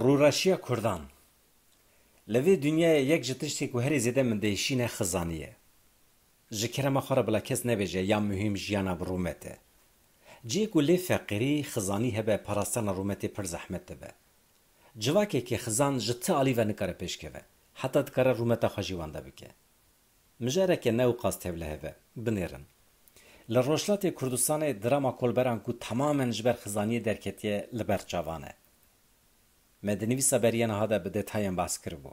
Rûreşiya Kurdan Li vê dinyayê yek ji tiştên ku herî zêde min diêşîne xizanî ye. Ji kerema xwe re bila kes nebêje ya muhîm jiyana bi rûmet e. Cihê ku lê feqîrî, xizanî hebe parastana rûmetê pir zehmet dibe. Civakekî xizan ji ti alî ve nikare pêşkeve. Heta dikare rûmeta xwe jî wenda bike. Mijareke ne û qas tevlihev e. Binêrin. Li Rojhilatê Kurdistanê drama kolberan ku temamen ji ber xizaniyê derketiye li ber çavan e. Me di nivîsa beriya niha de bi detayan behs kiribû.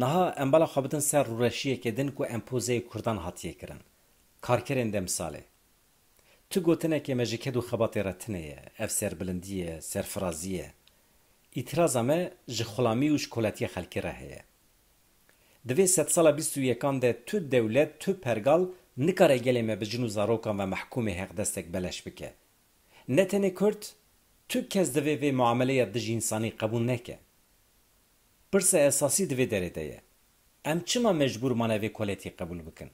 Niha em bala xwe bidin ser rûreşiyekê din ku empozeyê kurdan hatiye kirin. Karkerên demsalê. Tu gotinekê me ji ked û xebatê re tine ye, ev serbilindî ye, serfirazî ye. Îtîraza me ji xulamî û ji koletiya xelkê re heye. Di vê sedsala bîst û yekan de tu dewlet, tu pergal nikare gelê me bi jin û zarokan ve mehkûmê heqdestek beleş bike. Ne tenê kurd, tu kes divê vê muameleya dijînsanî qebûl neke. Pirsa esasî di vê derê de ye, em çima mecbûr mane vê koletî qebûl bikin?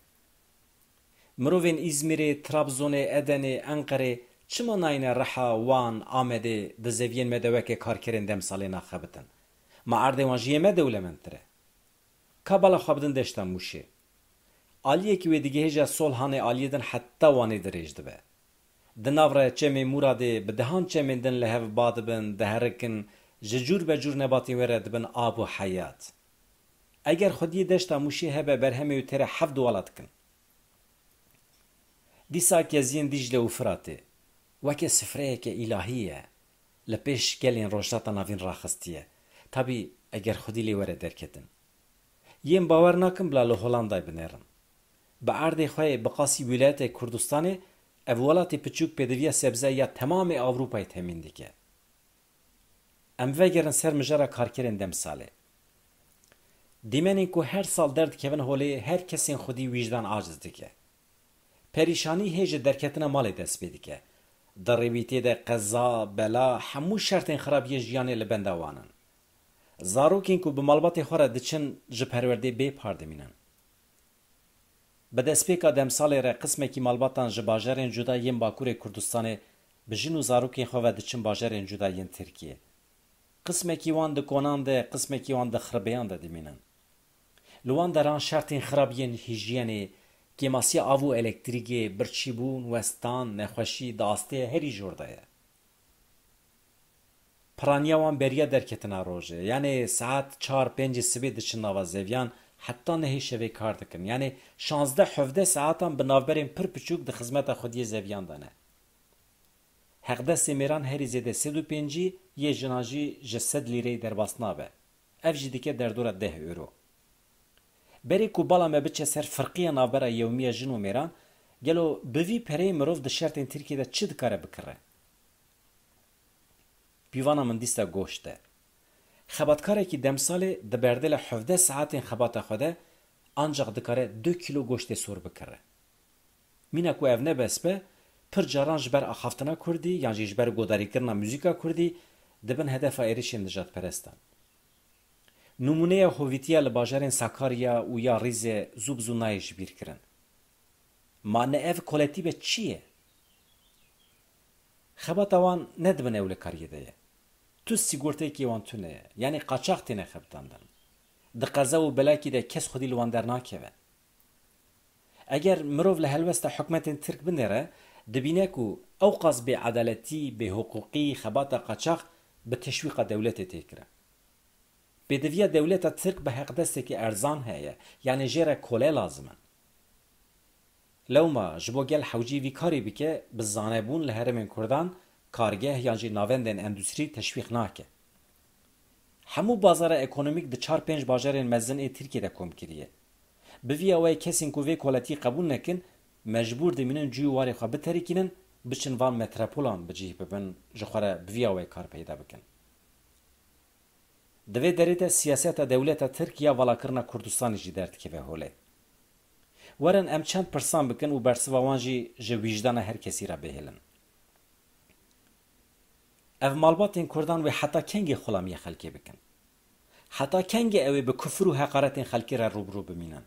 Mirovên Îzmîrê, Trabzonê, Edenê, Enqerê çima nayêne Riha, Wan, Amedê di zeviyên me de weke karkerên demsalê naxebitin? Ma erdê wan ji yê me dewlemendtir e. Ka bala xwe bidin deşta Mûşê. Aliyekî wê digihêje Solhanê aliyê din heta Wanê dirêj dibe. Di nav re çemê Mûradê bi dehan çemên din li hev ba dibin, diherikin, ji cûr be cûr nebatên wê re dibin av û heyat. Eger xwediyê deşta Mûşê hebe berhemê wê tê re heft wala dikin. Dîsa keziyên Dîcle û Firatê weke sifreyeke îlahî ye. li pêş gelên Rojhilata Navîn raxistiye. Tabî eger xwedî lê were derketin. Yên bawer nakim bila li Holandayê binêrin. Bi erdê xwe yê bi qasî wîlayeteke Kurdistanê ev welatê piçûk pêdiviya sebze ya temamê Ewropayê temîn dike. Em vegerin ser mijara karkerên demsalê. Dîmenên ku her sal derdikevin holê her kesên xwedî wîjdan aciz dike. Perîşanî hê ji derketina malê dest pê dike. Di rêwîtê de qeza, bela, hemû şertên xirab yê jiyanê li benda wan in. Zarokên ku bi malbatê xwe re diçin ji perwerdê bê par dimînin. Bi destpêka demsalê re qismekî malbatan ji bajarên cuda yên Bakurê Kurdistanê bi jin û zarokên xwe ve diçin bajarên cuda yên Tirkiyê. Qismekî wan di konan de, qismekî wan di xiribêyan de dimînin. Li wan deran şertên xirab yên hîjyenê, kêmasiya av û elektrîgê, birçîbûn, westan, nexweşî di asteyê herî jor de ye. Piraniya wan beriya derketina rojê, yanê saet çar pêncê sibê diçin nava zeviyan heta nehê şevê kar dikin. Yanê şazdeh hevdeh saetan bi navberên pir piçûk di xizmeta xwediyê zeviyan de ne. Heqdestê mêran herî zêde sed û pêncî, yê jinan jî ji sed lîreyê derbas nabe. Ev jî dike derdora deh euro. Berê ku bala me biçe ser firqiya navbera yewmiya jin û mêran, gelo bi vî pereyê mirov di şertên Tirkiyê de çi dikare bikire? Pîvana min dîsta goşt e. Xebatkarekî demsalê di berdêla hevdeh saetên xebata xwe de ancaq dikare du kîlo goştê sor bikire. Mîna ku ev ne bes be, pir caran ji ber axaftina kurdî yan jî ji ber godarîkirina muzîka kurdî dibin hedefa êrişên nijadperestan. Nimûneya hovîtiya li bajarên Sakarya û ya Rîzê zû bi zû nayê ji bîr kirin. Ma ne ev koletî be çi ye? Xebata wan ne di bin ewlekariyê de ye. Tu sîgorteyekê wan tune ye. Yanî qaçax têne xebitandin. Di qeza û belakî de kes xwedî li wan dernakeve. Eger mirov li helwesta hikûmetên Tirk binêre, dibîne ku ewqas bêedaletî, bêhiqûqî, xebata qaçax bi teşwîqa dewletê tê kirin. Pêdiviya dewleta Tirk bi heqdestekî erzan heye, yanî jê re kole lazim in. Lewma ji bo gel hewcî vî karî bike, bi zanebûn li herêmên Kurdan kargeh yan jî navendên endustrî teşwîq nake. Hemû bazara ekonomîk di çar pênc bajarên mezin ê Tirkiyê de kom kiriye. Bi vî awayê kesên ku vê koletiyê qebûl nekin, mecbûr dimînin cûyî warê xwe biterikînin, biçin van metrepolan bi cîh bibin, ji xwe re bi vî awayê kar peyda bikin. Di vê derê de siyaseta dewleta Tirk ya valakirina Kurdistanê jî derdikeve holê. Werin em çend pirsan bikin û bersiva wan jî ji wîjdana her kesî re bihêlin. Ev malbatên kurdan wê heta kengê xulamiyê xelkê bikin? Heta kengê ewê bi kufir û heqaretên xelkê re rûbirû bimînin?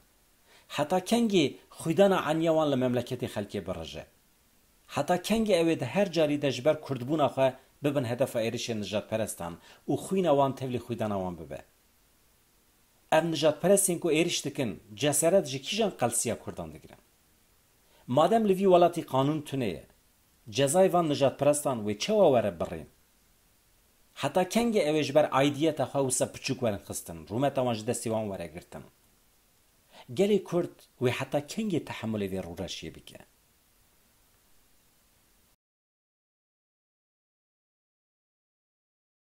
Heta kengê xwîdana eniya wan li memleketê xelkê birije? Heta kengê ewê di her carî de ji ber kurdbûna xwe bibin hedefa êrişên nijadperestan û xwîna wan tevlî xwîdana wan bibe? Ev nijadperestên ku êriş dikin ceseret ji kîjan qelsiya kurdan digirin? Madem li vî welatî qanûn tune ye, Cezayê van nijadperestan wê çawa were birrîn? Heta kengê ew ê ji ber aidiyeta xwe wisa piçûk werin xistin, rûmeta wan ji destê wan were girtin? Gelê Kurd wê heta kengê tehemulê vê rûreşiyê bike?